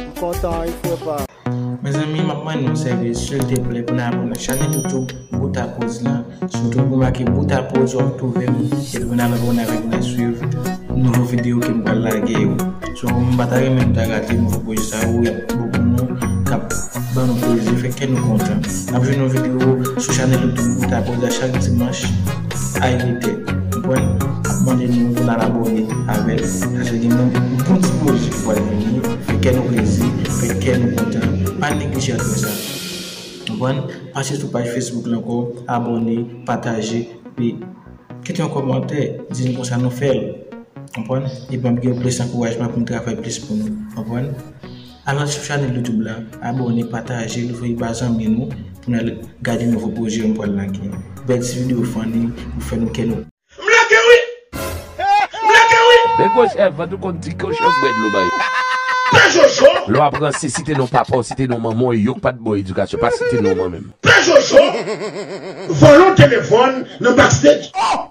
M kontan wi fre pa. Mezanmi map mande yon sèvis silteplè pou n abone chanè toutou boutapoz la sitou pou make boutapoz wap twouve m epi pou n al abone avèk mwen swiv nouvo video ke m pral lage yo so m pa ta renmen nou ta rate nouvo pwojè sa yo yap bon pou nou kap ban nou plezi fè kè nou kontan nap jwenn yon video sou chanèl youtube boutapoz la chak dimanch. Hi Mete mwen mande nou pou nal abone avèl paske gen yon bon ti pwojè ki pwal vini fè kè nou plezi fè kè nou kontan pa neglije al fè sa konprann pase sou paj Facebook lan ankò abone pataje epi kite yon kòmantè di nou konsa nou fèl konprann epi map gen plis ankourajman poum travay plis pou nou konprann. Al nan chanèl youtube la abòne patajel voye ba zanmi nou pou nal gade nouvo pwojè yo m pwal lage bèl ti video funny pou fè nou kè nou M lage wi! M lage wi! Men gwo chèf vant ou konn di ke w chèf bwè dlo bay yo. Pè Jojo! Lè wap ranse site non papa w site non manman w e yok pat baw edikasyon pa site non manmim. Pè Jojo! Vòlò telefòn nan backstage. Oh!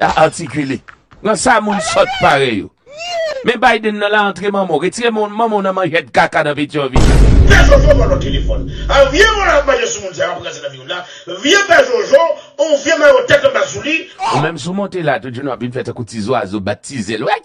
La artikile. Nan sa moun sòt parèy ou. Men Biden nan la antre manman w. Retire manman w nan manjèd kaka nan Petyonvil. Pè jojo vòlò telefòn. An vye vòlò ap manje sou moun sa yo ap ranse nan vi moun la. Vye pè jojo on vye mayo tèt anba sou li. Ou menm si w monte la tout jounen w ap vin fè tankou ti zwazo bat ti zèl w.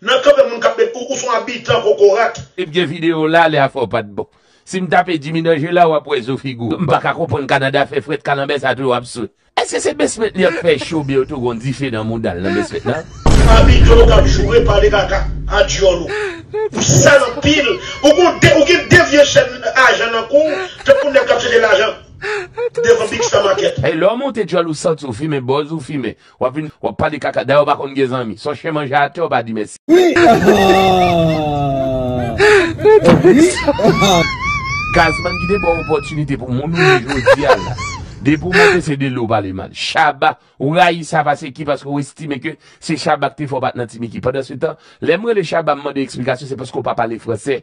Nan kanpe moun kap met ou ou son abitan kokorat. Te bgy video la lè afè w pat bon. Sim tape Jimmy nan jeu la wap wè zo figou. M paka konprann Canada fè frèt kalanbè sa toujou ap swe. Eske se basement li ap fè cho byen yo tou gon dife nan moudal nan basement nan. Abitè ou kap joure pale kaka a dyòl ou. Ou sal anpil ou gon de ou gen de vye chèn ajan nan kouw tankou nèg kap cheche lajan devan big star market. Hey lè w monte dyòl ou santi w fimen bòz ou fimen Wap vin wap pale kaka dayè ou pa konn gen zanmi son chen manje atè ou pa di mèsi. Gazman ki te baw opotinite pou moun ou ye jodia la depi ou monte se de li ou pale mal Shabba ou rayi sa pase ki paske ou estime ke se Shabba ki te fè ou pat nan ti Micky pandan se tan lèm rele Shabba m mande eksplikasyon se paske ou pa pale fransè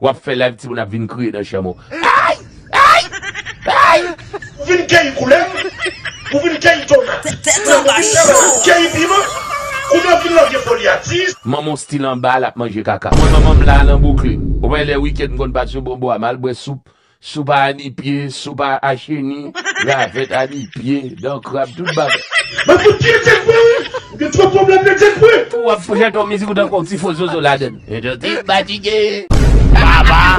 Wap fè live timoun ap vin kriye nan chanm ou ayy ayy ayy. Ou vin keyi koulèv, ou vin keyi tomat, kounye ou vin fè malad keyi piman, kounye ou vin lòge folyati. Manmanw stil anba lap manje kaka. Mwen manmanm la nan Brooklyn. Ou pa wè lè weekend m konn pase yo bon bo a mal bwè soup Soupa a ni pye, soupa a cheni, ravèt a ni pye, dan krab, tout bagay. Mwen fout pye Dyekwe wi, ou gen twòp pwoblèm de Dyekwe. Ou ap chante yon mizik ou tankou yon ti fo zozo ladann. Mwen tou te fatige papa.